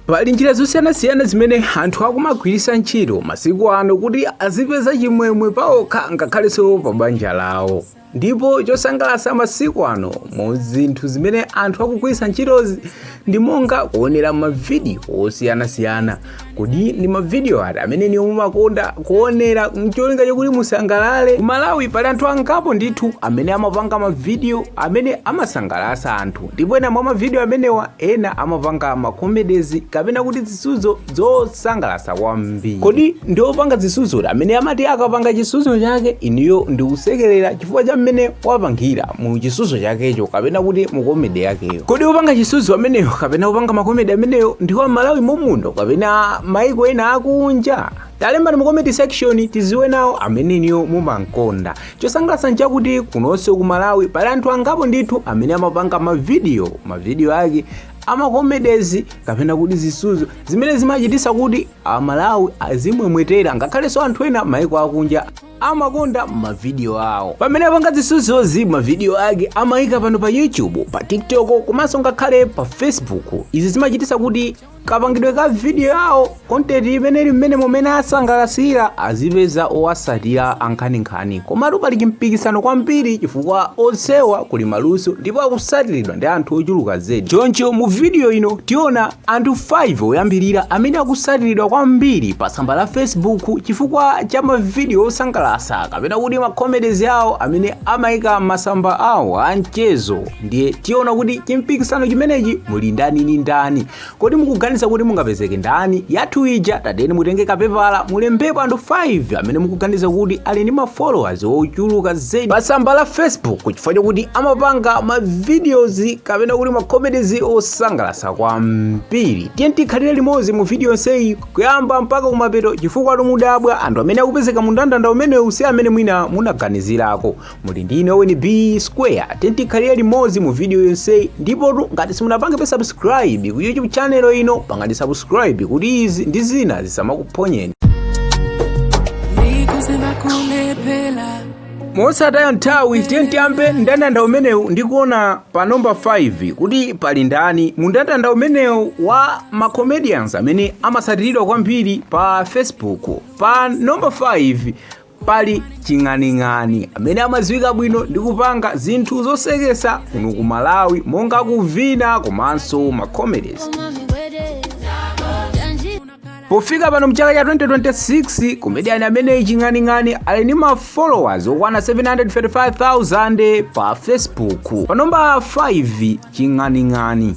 Pali njira zosiyanasiyana zimene anthu akumagwiritsa ntchito masiku ano kuti azipeza chimwemwe paokha ngakhalenso pa banja lawo. Ndipo chosangalatsa masiku ano mu zinthu zimene anthu akugwiritsa ntchitozi ndi monga kuonera mavidiyo osiyanasiyana. Kodi ndi mavidiyo ati amene inuyo mumakonda kuonera n'cholinga chakuti musangalale? Ku Malawi pali anthu angapo ndithu amene amapanga mavidiyo amene amasangalatsa anthu. ndipo ena mwa mavidiyo amenewa ena amapanga makomedezi kapena kuti zisudzo zosangalatsa kwambiri kodi ndi opanga zisudzo uti amene amati akapanga chisudzo chake inuyo ndi kusekerera chifukwa cha mmene wapangira mu chisudzo chakecho kapena kuti mu komedi yakeyo kodi opanga chisudzo ameneyo kapena opanga makomedi ameneyo ndi wa mmalawi momuno kapena maiko ena akunja talembani mu comment section tiziwe nawo amene inuyo mumankonda Chosangalatsa nchakuti kunonso ku Malawi pali anthu angapo ndithu amene amapanga mavidiyo mavidiyo ake amakomedezi kapena kuti zisuzo zimene zimachititsa kuti amalawi azimwemwetera ngakhalenso anthu ena maiko akunja amakonda mavidiyo awo pamene apanga zisuzozi mavidiyo ake amayika pano pa youtube pa tiktok komanso ngakhale pa facebook izi zimachititsa kuti kapangidwe ka vidiyo yawo kontenti imene ili mmenemo mmene asangalasira azipeza owasatira ankhaninkhani komatu pali chimpikisano kwambiri chifukwa onsewa kuli maluso ndipo akusatiridwa ndi anthu ochuluka zedi choncho mu vidiyo ino tiona anthu 5 oyambirira amene akusatiridwa kwambiri pa tsamba la facebook chifukwa cha mavidiyo osangalasa kapena kuti makomedezi awo amene amayika masamba awo a mchezo ndiye tiona kuti chimpikisano chimenechi muli ndani ndi ndani kodi mukuganiza kuti mungapezeke ndani yathu ija tatiyeni mutenge kapepala mulembepo anthu 5 amene mukuganiza kuti ali ndi mafollowers ochuluka zedi pa tsamba la facebook chifukwa chokuti amapanga mavideos kapena kuti makomedies osangalatsa kwambiri tiyeni tikhalire limodzi mu video yonseyi kuyamba mpaka kumapeto chifukwatu mudabwa anthu amene akupezeka mu mndandanda umenewu si amene mwina munaganizirako muli ndi ine owen b square tiyeni tikhalire limodzi mu video yonseyi ndipotu ngati simunapangebe subscribe ku youtube channel ino pangani subscribe kuti izi ndi zina zisamakuphonyeni mosataya nthawi tiyeni tiyambe mndandanda umenewu ndikuona pa nomba 5 kuti pali ndani mu mndandanda umenewu wa macomedians amene amatsatiridwa kwambiri pa facebook pa nomba 5 pali ching'aning'ani amene amadziwika bwino ndi kupanga zinthu zosekesa kuno ku malawi monga kuvina komanso macomedies pofika pano mchaka cha 2026 komediyani ameneyi ching'aning'ani ali ndi ma followers okwana 735,000 pa facebook pa namba 5 ching'aning'ani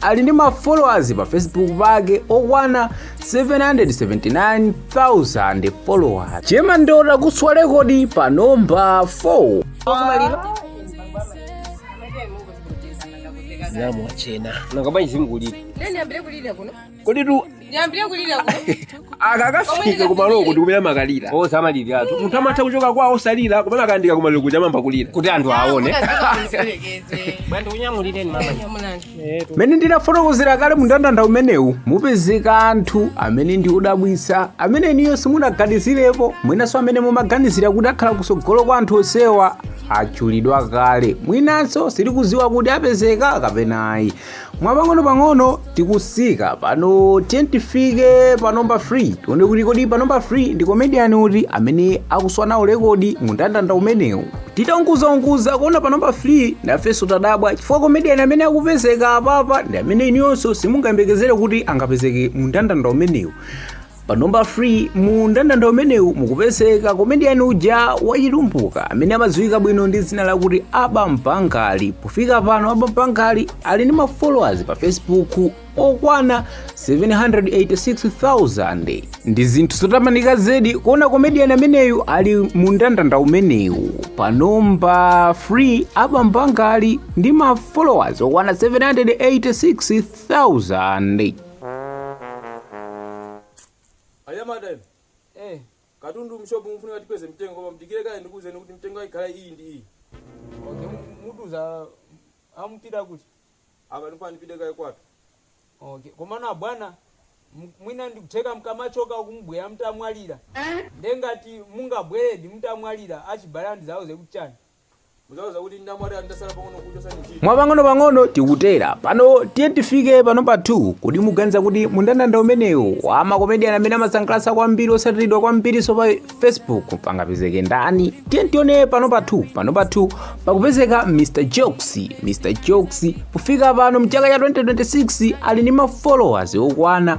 ali ndi ma followers pa facebook pake okwana 779,000 followers che mandota kuswa rekodi pa nomba 4 namwachena nanga ndiyambire kulira kodi tu ndiyambire kulira kuno akakafika kumaliroko ndikumene amakalira osamaliratu munthu amatha kuchoka kwawo osalira komano akayandika kumaliro kuja amayamba kulira kuti anthu aone bwanji ndinyamulireni mama mene ndinafotokozera kale mndandanda umenewu mupezeka anthu amene ndi odabwitsa amene inuyo simunaganizirepo mwinanso amene mumaganizira kuti akhala kusogolo kwa anthu onsewa atchulidwa kale mwinanso sitikuziwa kuti apezeka kapena ayi mwapang'ono pang'ono tikusika pano tiyeni tifike pa nomba 3 tione kuti kodi pa nomba 3 ndi komediyani uti amene akuswa nawo rekodi mu ndandanda umenewu titaunguzaunguza kuona pa nomba 3 nafenso tadabwa chifukwa komediyani amene akupezeka apapa ndi amene inuyonso simungayembekezere kuti angapezeke mu ndandanda umenewu pa nomba 3 mu ndandanda umenewu mukupezeka komediyani uja wachitumbuka amene amadziwika bwino ndi dzina lakuti aba mpangali pofika pano aba mpangali ali ndi mafollowers pa facebook okwana 786,000 ndi zinthu zotamanika zedi kuona komediyani ameneyu ali mu ndandanda umenewu pa nomba 3 aba mpangali ndi mafollowers okwana 786,000 anyamata inu katundu mshopu ndikufuna tikweze mtengo koma mdikire kaye ndikuwuzeni kuti mtengo ikhala iyi ndi iyi okay mutiuza mukupita kuti apa ndifuna ndipite kaye kwatu okay komano abwana mwina ndikutheka mkamachoka akubwera mtamwalira nde ngati mungabweredi mtamwalira achibale ndizawauze kuti chani Muzawauza kuti ndamwalira ndasala pang'ono kuchosa nchito. mwapang'onopang'ono tikutera pano tiyeni tifike pa nomba 2 kodi muganiza kuti mu ndandanda umenewu wa makomediyani amene amasangalatsa kwambiri osatiridwa kwambirinso pa facebook pangapezeke ndani tiyeni tione pa nomba 2 pa nomba 2 pakupezeka mr jokes mr jokes pofika pano mchaka cha 2026 ali ndi mafollowers okwana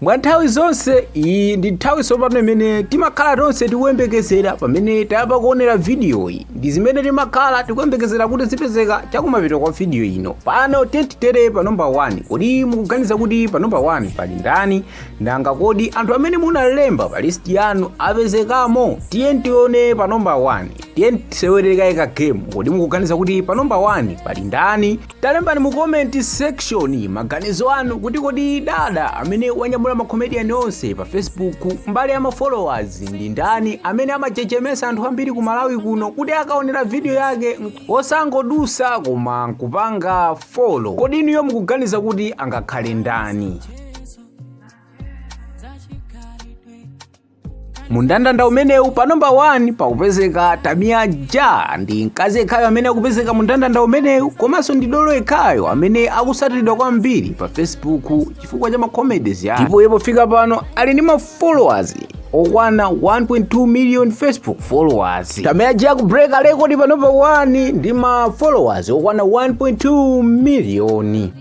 mwa nthawi zonse iyi ndi nthawi tsopano imene timakhala tonse tikuyembekezera pamene tayamba kuonera vidiyoyi ndi zimene timakhala tikuyembekezera kuti zipezeka chakumapeto kwa vidiyo ino pano tiyeni titere pa namba 1 kodi mukuganiza kuti pa namba 1 pali ndani nanga kodi anthu amene munalemba pa listi yanu apezekamo tiyeni tione pa namba 1 tiyeni tisewere kaye ka game kodi mukuganiza kuti pa namba 1 pali ndani Talembani mu comment section maganizo anu kuti kodi dada amene wanyamula ma comedian onse pa Facebook mbali ya ma followers ndi ndani amene amachechemesa anthu ambiri ku Malawi kuno kuti akaonera video yake osangodusa koma nkupanga follow. Kodi inuyo mukuganiza kuti angakhale ndani? mundandanda umenewu pa namba 1 pakupezeka tamiya ja ndi mkazi yekhayo amene akupezeka mundandanda umenewu komanso ndi dolo yekhayo amene akusatiridwa kwambiri pa facebook chifukwa cha macomedies yake ndipo iye pofika pano ali ndi mafollowers okwana 1.2 million facebook followers tamiya ja kubreaka rekodi pa namba 1 ndi ma followers okwana 1.2 miliyoni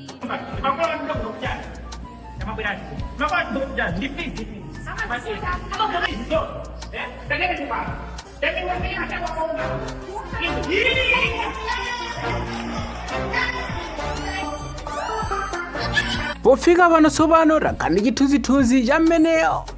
pofika pano tsopano takhala ndi chithunzithunzi cha mmene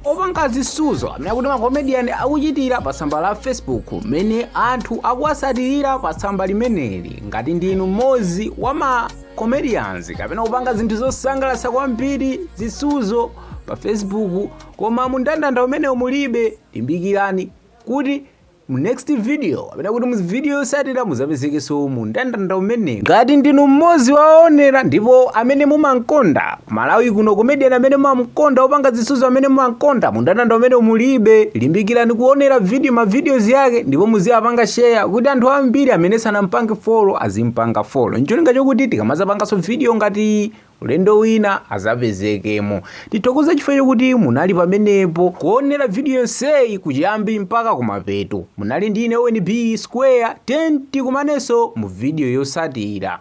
opanga zisuzo amene akuti makomediyani akuchitira pa tsamba la facebook mmene anthu akuwasatirira pa tsamba limeneli ngati ndinu mmodzi wa ma comedians kapena kupanga zinthu zosangalatsa kwambiri zisuzo pa facebook koma mundandanda umenewo mulibe limbikirani kuti mu next video kapena kuti mu video yosatira muzapezekenso mu ndandanda umenewu ngati ndinu mmodzi wa owonera ndipo amene mumamkonda Malawi kuno comedian amene mumamkonda opanga zisuzo amene mumamkonda mundandanda umenewu mulibe. Limbikirani kuonera video ma videos yake ndipo muziwapanga share kuti anthu ambiri amene sanampange follow azimpanga follow ncholinga chokuti tikamazapanganso video ngati iyi ulendo wina azapezekemo. Tithokoza chifukwa chokuti munali pamenepo kuonera video yonseyi kuchiyambi mpaka kumapeto. Munali ndi ine Owen B Square 10 tikumanenso mu video yosatira.